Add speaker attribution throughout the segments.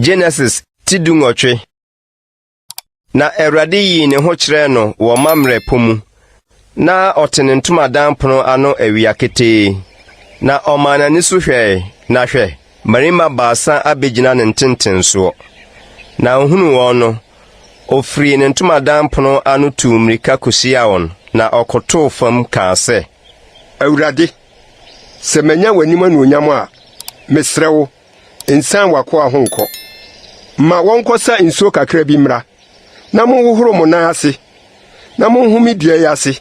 Speaker 1: Genesis ti du nwɔtwe na Awurade yii ne ho kyerɛɛ no wɔ Mamrɛ po mu na ɔte ne ntomadan pono ano awia ketee na ɔmaa n'ani so hwɛe na hwɛ Mmarima baasa abegyina ne ntentensoɔ, na ɔhunuu wɔn no, ɔfirii ne ntomadan pono ano tuu mmirika kɔhyiaa wɔn, na ɔkotoo fam kaa sɛ. Awurade,
Speaker 2: sɛ manya w'anim anuonyam a, mesrɛ wo, nsiane w'akoa ho nkɔ. Ma wɔnkɔsa nsuo kakra bi mmra, na monhohoro mo nan ase, na monhome dua yi ase,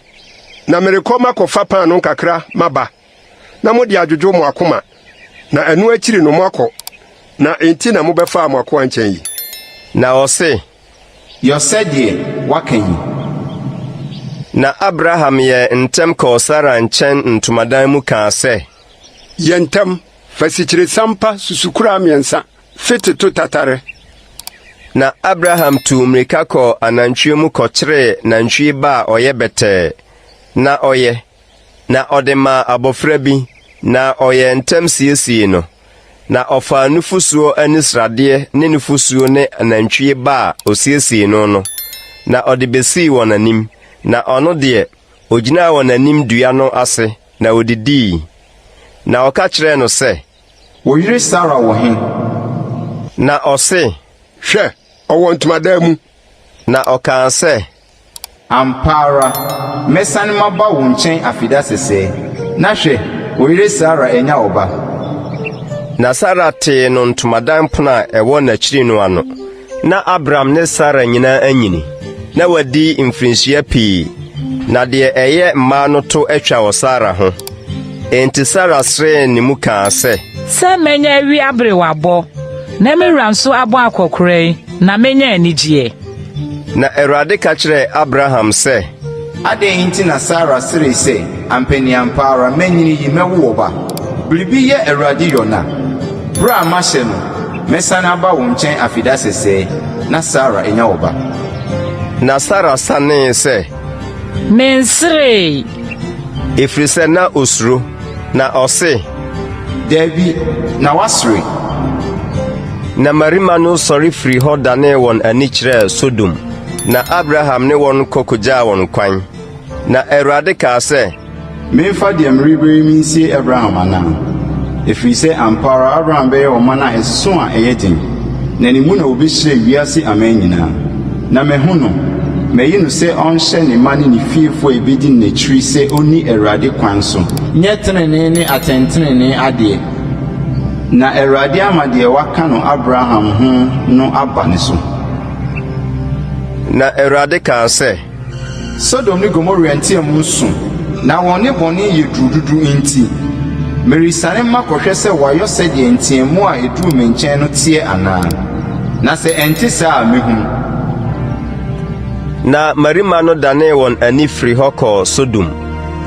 Speaker 2: na merekɔ makɔfa paanoo kakra maba. na mode adwodwo mo akoma, na ɛno akyiri no moakɔ, na enti na mobɛfaa mo akoa nkyɛn yi? Na ɔse,
Speaker 1: Yɔ sɛdeɛ
Speaker 3: woaka yi.
Speaker 1: Na Abraham yɛɛ ntɛm kɔɔ Sara nkyɛn ntomadan mu kaa sɛ. Yɛ ntɛm,
Speaker 2: fa sikyiresiam pa susukoraa mmiɛnsa, fete to tatare. Na
Speaker 1: Abraham tuu mmirika kɔɔ anantwie mu kɔkyeree nantwie ba a ɔyɛ bɛtɛɛ, na ɔyɛ. na ɔde maa abɔfra bi, na ɔyɛɛ ntɛm siesiee no, na ɔfaa nufosuo ne sradeɛ ne nufosuo ne nantwie ba a ɔsiesiee no no, na ɔde bɛsii wɔn anim, na ɔno deɛ, ɔgyinaa wɔn anim dua no ase, na ɔdidii. Na ɔka kyerɛɛ no sɛ. Wo yere
Speaker 3: Sara wɔ he?
Speaker 1: Na ɔse. Hwɛ,
Speaker 2: ɔwɔ ntomadan mu. Na ɔkaa
Speaker 1: sɛ. Ampa
Speaker 3: ara, mɛsan maba wo nkyɛn afe da sɛsɛɛ, na hwɛ, wo yere Sara anya ɔba. Na Sara
Speaker 1: tee no ntomadan pono a ɛwɔ n'akyiri no ano. Ná Abram ne Sara nyinaa anyini, na wɔadi mfirinhyia pii, na deɛ ɛyɛ mmaa no to atwa wɔ Sara ho. Enti Sara seree ne mu kaa sɛ. Sɛ mɛnya
Speaker 4: awi aberewabɔ, na me wura nso abɔ akɔkoraa yi, na mɛnya anigyeɛ. Na
Speaker 1: Awurade ka kyerɛɛ Abraham sɛ. Adɛn nti
Speaker 3: na Sara seree sɛ, Ampɛ ne ampa ara manyini yi mɛwo ɔba? Biribi yɛ Awurade Yona. Berɛ a mahyɛ no, mɛsane aba wo nkyɛn afeda sɛsɛɛ, na Sara anya ɔba. Na
Speaker 1: Sara sanee sɛ. Menseree. Ɛfiri sɛ na ɔsuro. Na ɔse, Daabi,
Speaker 3: na wasere.
Speaker 1: Na mmarima no sɔre firii hɔ danee wɔn ani kyerɛɛ Sodom, na Abraham ne wɔn kɔ kogyaa wɔn kwan. Na Awurade kaa sɛ, Memfa deɛ
Speaker 3: merebɛ yi mensie Abraham anaa? Ɛfiri sɛ ampa ara Abraham bɛyɛ ɔman a ɛsesõ a ɛyɛ den, na ne mu na wɔbɛhyira wiase aman nyinaa. Na mahu no, mayi no sɛ ɔnhyɛ ne mma ne ne fiefo a ebedi no n'akyiri sɛ onni Awurade kwan so. Nyɛ trenee ne atɛntrenee adeɛ, na Awurade ama deɛ waka no Abraham ho no aba ne so. Na
Speaker 1: Awurade kaa sɛ. Sodom
Speaker 3: ne Gomora nteɛm su, na wɔn nnebɔne yɛ duru dodo nti, meresiane makɔhwɛ sɛ wɔayɔ sɛdeɛ nteɛm a ɛduruu me nkyɛn no teɛ anaa, na sɛ ɛnte saa a, mɛhunu.
Speaker 1: Na mmarima no danee wɔn ani firii hɔ kɔɔ Sodom.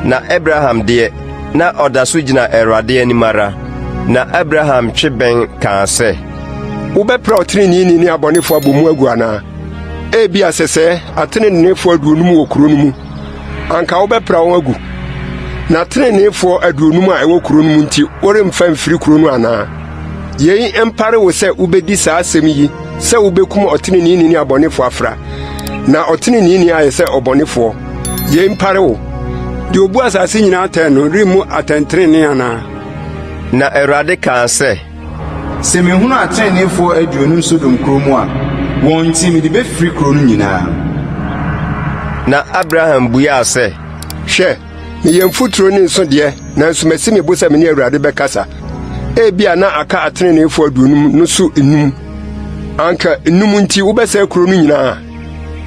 Speaker 1: Na Abraham deɛ, na ɔda so gyina Awurade anim ara. Na Abraham twe bɛn kaa sɛ. Wobɛpra
Speaker 2: ɔteneneeni ne abɔnefoɔ abɔ mu agu anaa? Ebia sɛsɛɛ ateneneefoɔ aduonum wɔ kuro no mu, anka wobɛpra wɔn agu. Na ateneneefoɔ aduonum a ɛwɔ kuro no mu nti, woremfa mfiri kuro no anaa? Yei mpare wo sɛ wobɛdi saa asɛm yi sɛ wobɛkum ɔteneneeni ne abɔnefoɔ afra, na ɔteneneeni ayɛ sɛ ɔbɔnefoɔ. Yei mpare wo. Deɛ ɔbu asase nyinaa atɛn no remmu atɛntenenee anaa? Na
Speaker 1: Awurade kaa sɛ. Sɛ mehunu
Speaker 3: ateneneefoɔ aduonum Sodom kuro mu a, wɔn nti mede bɛfiri kuro no nyinaa.
Speaker 1: Na Abraham buaa sɛ, Hwɛ,
Speaker 2: meyɛ mfuturo ne nsõ deɛ, nanso masi me bo sɛ me ne Awurade bɛkasa. Ebia na aka ateneneefoɔ aduonum no so nnum. Anka nnum nti wobɛsɛe kuro no nyinaa?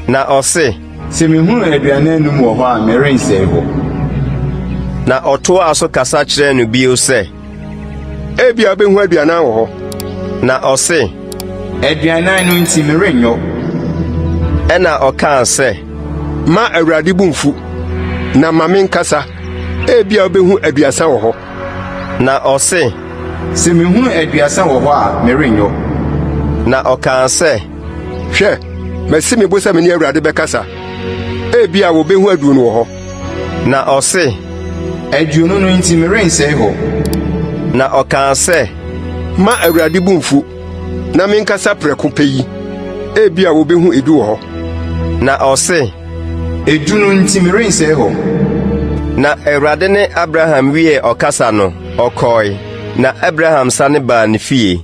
Speaker 2: Na ɔse.
Speaker 1: Sɛ mehunu
Speaker 3: aduane anum wɔ hɔ a, merensɛe hɔ.
Speaker 1: Na ɔtoaa so kasa kyerɛɛ no bio sɛ. Ebia
Speaker 2: obehu aduanan wɔ hɔ. Na ɔse,
Speaker 1: Aduanan
Speaker 3: no nti merenyɔ.
Speaker 1: Ɛna ɔkaa sɛ, Ma Awurade
Speaker 2: bo mfu, na ma me nkasa, ebia obehu aduasa wɔ hɔ. Na
Speaker 1: ɔse, Sɛ mehunu
Speaker 3: aduasa wɔ hɔ a, merenyɔ. Na
Speaker 1: ɔkaa sɛ, Hwɛ,
Speaker 2: masi me bo sɛ me ne Awurade bɛkasa, ebia wobehu aduonu wɔ hɔ. Na ɔse,
Speaker 1: Aduonu
Speaker 3: no nti merensɛe hɔ. Na
Speaker 2: ɔkaa sɛ, Ma
Speaker 1: Awurade bo
Speaker 3: mfu,
Speaker 2: na menkasa prɛko pɛ yi, ebia wobehu edu wɔ hɔ. Na ɔse,
Speaker 1: Edu no
Speaker 3: nti merensɛe hɔ. Na
Speaker 1: Awurade ne Abraham wiee ɔkasa no, ɔkɔe, na Abraham sane baa ne fie.